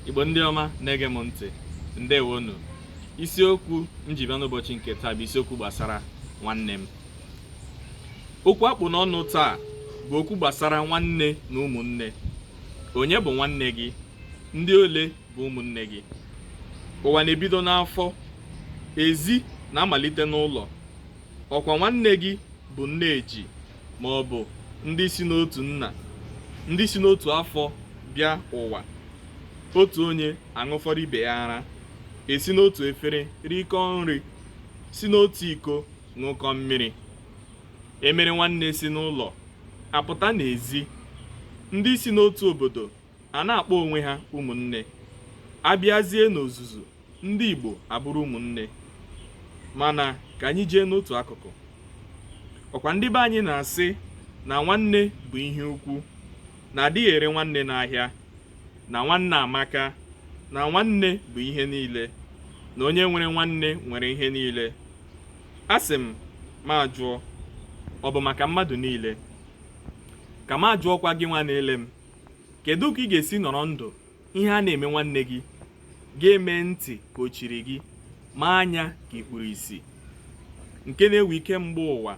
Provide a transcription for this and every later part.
igbo ndị ọma na-ege m ntị ndeewonụ isiokwu m ji bịa n'ụbọchị nke taa bụ isiokwu gbasara nwanne m okwu a kpụ n'ọnụ taa bụ okwu gbasara nwanne na ụmụnne onye bụ nwanne gị ndị ole bụ ụmụnne gị ụwa na-ebido n'afọ ezi na-amalite n'ụlọ ọkwa nwanne gị bụ nne eji ma ọ bụ ndị si n'otu nna ndị si n'otu afọ bịa ụwa otu onye aṅụfọrọ ibe ya ara e si n'otu efere rikọọ nri si n'otu iko ṅụkọ mmiri e mere nwanne si n'ụlọ apụta n'ezi ndị si n'otu obodo a na-akpọ onwe ha ụmụnne a bịazie n'ozuzu ndị Igbo abụrụ ụmụnne mana ka anyị jee n'otu akụkụ ọkwa ndị be anyị na-asị na nwanne bụ ihe ukwu na a dịghị ere nwanne n'ahịa na nwanne amaka na nwanne bụ ihe niile na onye nwere nwanne nwere ihe niile a sị m ma jụọ ọ bụ maka mmadụ niile ka m ajụọkwa gị nwa na-ele m kedu ka ị ga-esi nọrọ ndụ ihe a na-eme nwanne gị gị emee ntị ka o chiri gị mee anya ka i kpuru isi nke na-ewe ike mgbe ụwa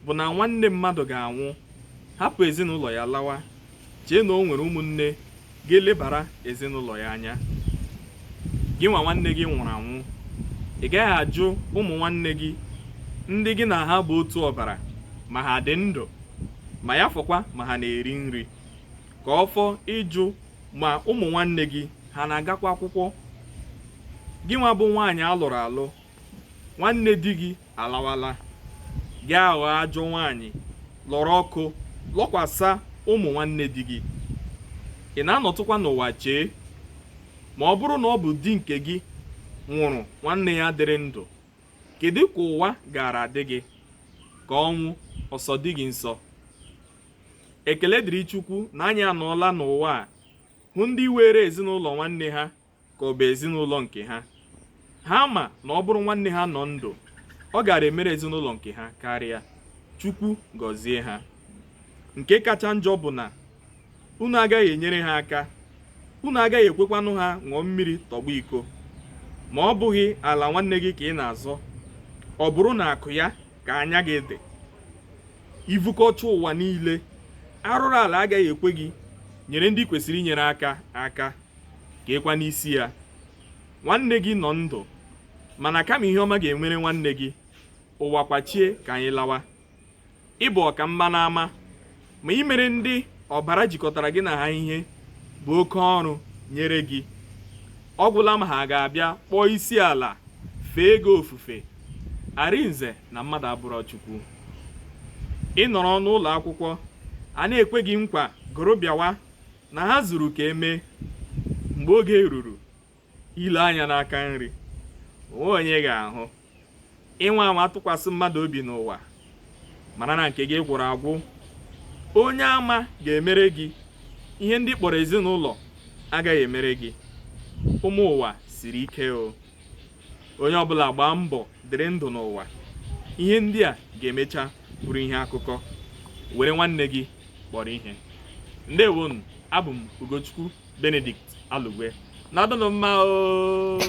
bụ na nwanne mmadụ ga-anwụ hapụ ezinụlọ ya lawa chee na o nwere ụmụnne ga-elebara ezinụlọ ya anya gị nwa nwanne gị nwụrụ anwụ ị gaghị ajụ ụmụ nwanne gị ndị gị na ha bụ otu ọbara ma ha dị ndụ ma ya fọkwa ma ha na-eri nri ka ọ fọ ịjụ ma ụmụ nwanne gị ha na-agakwa akwụkwọ gị nwa bụ nwaanyị a lụrụ alụ nwanne di gị alawala gị aghọọ ajọ nwaanyị lọrọ ọkụ lọkwasa ụmụ nwanne di gị ị na-anọtụkwa n'ụwa chee ma ọ bụrụ na ọ bụ di nke gị nwụrụ nwanne ya dịrị ndụ kedu ka ụwa gaara adị gị ka ọnwụ ọ sọ di gị nsọ ekele dịrị chukwu na anyị anọọla n'ụwa a hụ ndị weere ezinụlọ nwanne ha ka ọ bụ ezinụlọ nke ha ha ma na ọ bụrụ nwanne ha nọ ndụ ọ gaara emere ezinụlọ nke ha karịa chukwu gọzie ha nke kacha njọ bụ na unu agaghị enyere ha aka unu agaghị ekwekwanụ ha ṅụọ mmiri tọgbọ iko ma ọ bụghị ala nwanne gị ka ị na-azọ ọ bụrụ n'akụ ya ka anya gị dị i vukọcha ụwa niile arụrụ ala agaghị ekwe gị nyere ndị kwesịrị inyere aka aka ka ịkwa n'isi ya nwanne gị nọ ndụ mana kama ihe ọma ga-emere nwanne gị ụwa kwachie ka anyị lawa ị bụ ọka mma n'ama ma imere ndị ọbara jikọtara gị na ha ihe bụ oke ọrụ nyere gị ọ gwụla ma ha ga-abịa kpọọ isi ala fee gị ofufe arinze na mmadụ abụrọ chukwu ị nọrọ n'ụlọ akwụkwọ a na-ekwe gị nkwa gụrụ bịawa na ha zuru ka e mee mgbe oge ruru i lee anya n'aka nri o nwe onye ị ga-ahụ ị nwaa anwa tụkwasị mmadụ obi n'ụwa mara na nke gị gwụrụ agwụ onye ama ga-emere gị ihe ndị ị kpọrọ ezinụlọ agaghị emere gị ụmụ ụwa siri ike o onye ọbụla gbaa mbọ dịrị ndụ n'ụwa ihe ndị a ga-emecha bụrụ ihe akụkọ were nwanne gị kpọrọ ihe ndewonụ abụ m ugochukwu benedict alugwe nọdụnụ mma